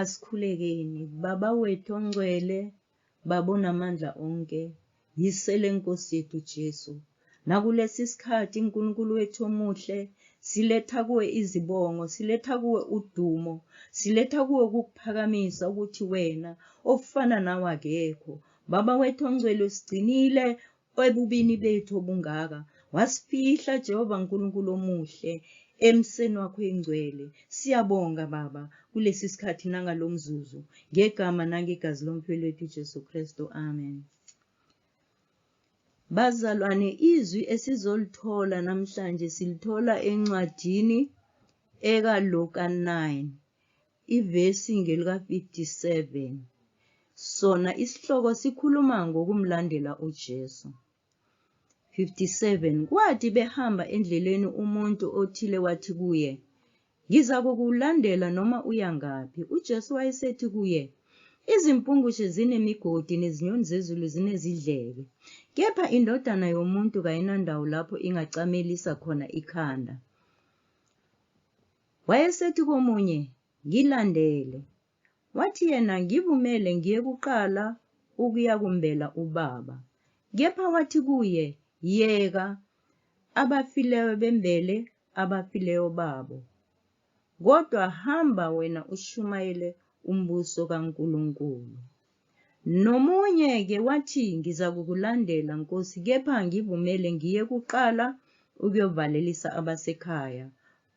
Asikhulekeni. Baba wethu ongcwele, Baba onamandla onke, yisele Nkosi yethu Jesu. Nakulesi sikhathi Nkulunkulu wethu omuhle, siletha kuwe izibongo, siletha kuwe udumo, siletha kuwe ukukuphakamisa ukuthi wena ofana nawe akekho. Baba wethu ongcwele usigcinile, Ebubini bethu obungaka, wasifihla Jehova Nkulunkulu omuhle emseni wakho engcwele. Siyabonga Baba kulesi sikhathi nangalo mzuzu, ngegama nangegazi lomfwelwethu uJesu Kristu. Amen. Bazalwane, izwi esizolithola namhlanje silithola encwadini ekaLuka 9. Ivesi ngelika-57. Sona isihloko sikhuluma ngokumlandela uJesu. 57 kwathi behamba endleleni umuntu othile wathi kuye ngiza kukulandela noma uya ngaphi ujesu wayesethi kuye izimpungushe zinemigodi nezinyoni zezulu zinezidleke kepha indodana yomuntu kayinandawo lapho ingacamelisa khona ikhanda Wayesethi komunye, Ngilandele. Wathi yena, Ngivumele ngiye kuqala ukuyakumbela ubaba. Kepha wathi kuye, Yeka, abafileyo bembele abafileyo babo. Kodwa hamba wena ushumayele umbuso kaNkulunkulu. Nomunye-ke wathi, Ngizakukulandela, Nkosi, kepha ngivumele ngiye kuqala ukuyovalelisa abasekhaya.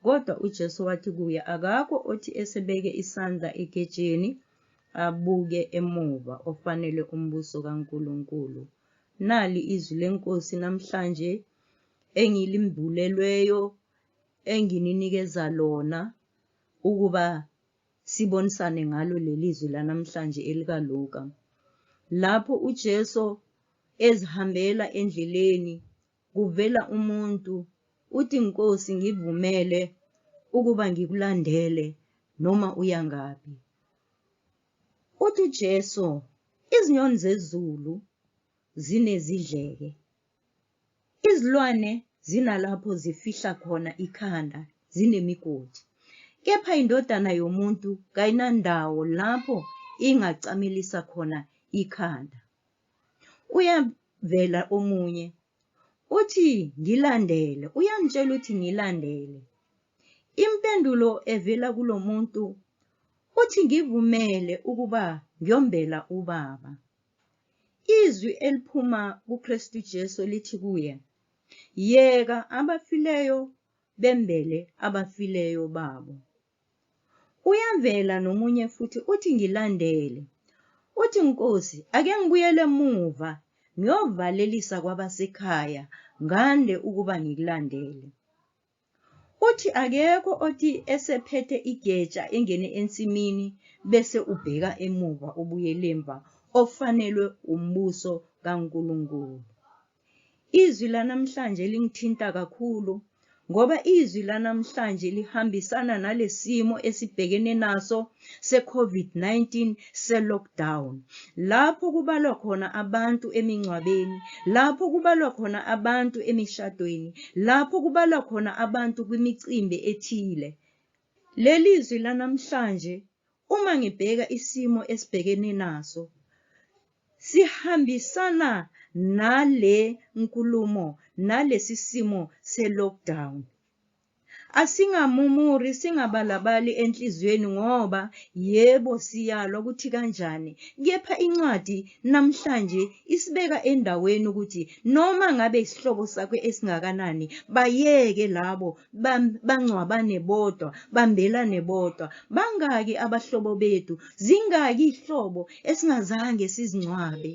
Kodwa uJesu wathi kuye, Akakho othi esebeke isandla egetsheni abuke emuva ofanele umbuso kaNkulunkulu. Nali izwi leNkosi namhlanje engilimbulelweyo engininikeza lona ukuba sibonisane ngalo leli zwi lanamhlanje elikaLuka. Lapho uJesu ezihambela endleleni kuvela umuntu uthi Nkosi ngivumele ukuba ngikulandele noma uya ngaphi. Uthi uJesu izinyoni zezulu zinezidleke. Izilwane zinalapho zifihla khona ikhanda zinemigodi. Kepha indodana yomuntu kayinandawo lapho ingacamelisa khona ikhanda. Uyavela omunye uthi ngilandele, uyangitshela ukuthi ngilandele. Impendulo evela kulo muntu uthi ngivumele ukuba ngiyombela ubaba. Izwi eliphuma kuKristu Jesu lithi kuye, Yeka abafileyo bembele abafileyo babo. Uyavela nomunye futhi uthi ngilandele. Uthi Nkosi ake ngibuyele emuva ngiyovalelisa kwabasekhaya ngande ukuba ngikulandele. Uthi akekho othi esephethe igeja engene ensimini bese ubheka emuva ubuyelemva ofanelwe umbuso kaNkulunkulu. Izwi lanamhlanje lingithinta kakhulu ngoba izwi lanamhlanje lihambisana nalesimo esibhekene naso seCovid-19 selockdown lapho kubalwa khona abantu emingcwabeni, lapho kubalwa khona abantu emishadweni, lapho kubalwa khona abantu kwimicimbi ethile. Leli zwi lanamhlanje Uma ngibheka isimo esibhekene naso, sihambisana nale nkulumo nalesi simo se-lockdown. Asingamumuri, singabalabali enhliziyweni ngoba yebo siyalwa ukuthi kanjani, kepha incwadi namhlanje isibeka endaweni ukuthi noma ngabe isihlobo sakho esingakanani, bayeke labo bam- bangcwabane bodwa bambelane bodwa bangaki abahlobo bethu zingaki ihlobo esingazange sizingcwabe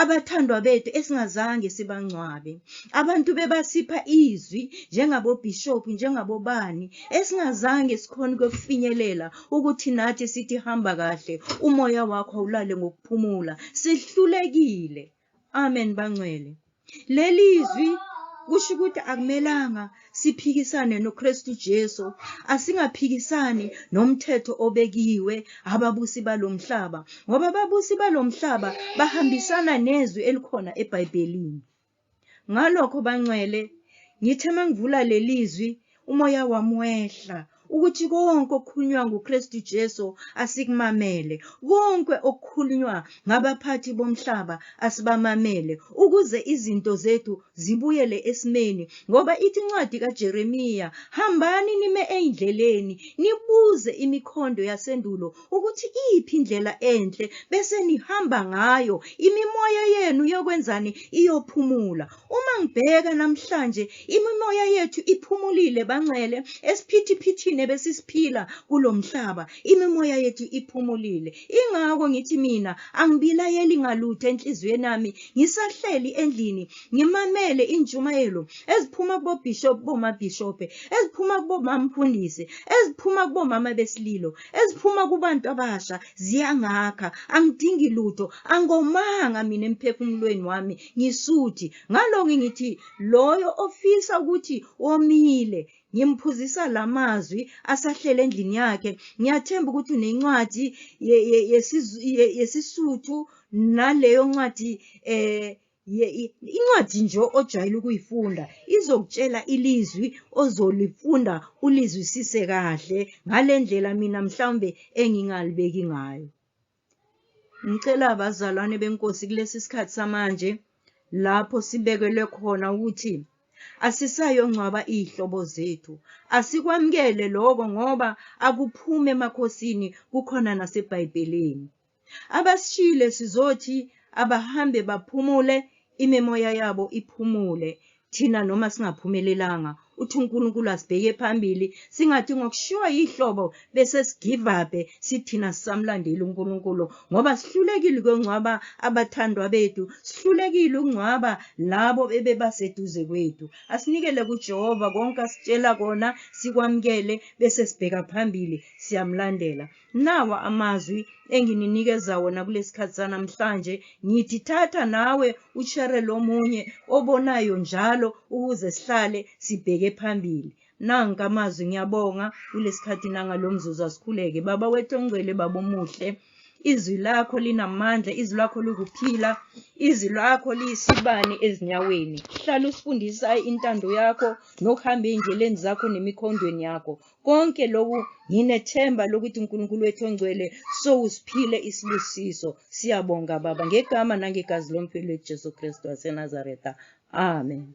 abathandwa bethu esingazange sibangcwabe abantu bebasipha izwi njengabobhishophu njengabobani esingazange sikhona ukufinyelela ukuthi nathi sithi hamba kahle umoya wakho awulale ngokuphumula sihlulekile Amen bangcwele. Lelizwi kusho ukuthi akumelanga siphikisane noKristu Jesu asingaphikisani nomthetho obekiwe ababusi balomhlaba ngoba ababusi balomhlaba bahambisana nezwi elikhona eBhayibhelini ngalokho bangcwele ngithe mangivula lelizwi umoya wami wehla ukuthi konke okukhulunywa nguKristu Jesu asikumamele konke okukhulunywa ngabaphathi bomhlaba asibamamele ukuze izinto zethu zibuyele esimeni ngoba ithi incwadi kaJeremiya hambani nime eindleleni nibuze imikhondo yasendulo ukuthi iphi indlela enhle bese nihamba ngayo imimoya yenu yokwenzani iyophumula Uma ngibheka namhlanje imimoya yethu iphumulile banxele esiphithiphithini ebesisiphila kulomhlaba imimoya yethu iphumulile ingakho ngithi mina angibilayeli ngalutho enhliziyweni yami ngisahleli endlini ngimamele injumayelo eziphuma kubo bishop boma bishop eziphuma kubo mamfundisi eziphuma kubo mama besililo eziphuma kubantu abasha ziyangakha angidingi lutho angomanga mina emphefumulweni wami ngisuthi ngalo ngingithi loyo ofisa ukuthi womile ngimphuzisa lamazwi asahlele endlini yakhe ngiyathemba ukuthi unencwadi yesisuthu naleyo ncwadi eh incwadi nje ojwayele ukuyifunda izokutshela ilizwi ozolifunda ulizwisise kahle ngale ndlela mina mhlawumbe engingalibeki ngayo Ngicela abazalwane benkosi kulesi sikhathi samanje lapho sibekelwe khona ukuthi asisayongcwaba iy'hlobo zethu asikwamukele loko ngoba akuphumi emakhosini kukhona nasebhayibhelini abasishile sizothi abahambe baphumule imimoya yabo iphumule Thina noma singaphumelelanga, uthi uNkulunkulu asibheke phambili, singathi ngokushiwa yihlobo bese sigivabhe sithina sisamlandeli uNkulunkulu ngoba sihlulekile ukuyongcwaba abathandwa bethu, sihlulekile ukungcwaba labo ebebaseduze kwethu. Asinikele kuJehova konke asitshela kona, sikwamukele bese sibheka phambili, siyamlandela. Nawa amazwi engininikeza wona kulesikhathi sanamhlanje ngithi thatha nawe ushere lomunye obonayo njalo ukuze sihlale sibheke phambili nanka amazwi ngiyabonga kulesikhathi nangalomzuzu asikhuleke baba wethu ongcwele baba omuhle izwi lakho linamandla izwi lakho lokuphila izwi lakho liyisibani ezinyaweni hlala usifundisa intando yakho nokuhamba ey'ndleleni zakho nemikhondweni yakho Konke lokhu nginethemba lokuthi uNkulunkulu wethu ongcwele sowusiphile isibusiso. Siyabonga Baba ngegama nangegazi lomfelo wethu Jesu Kristu waseNazaretha. Amen.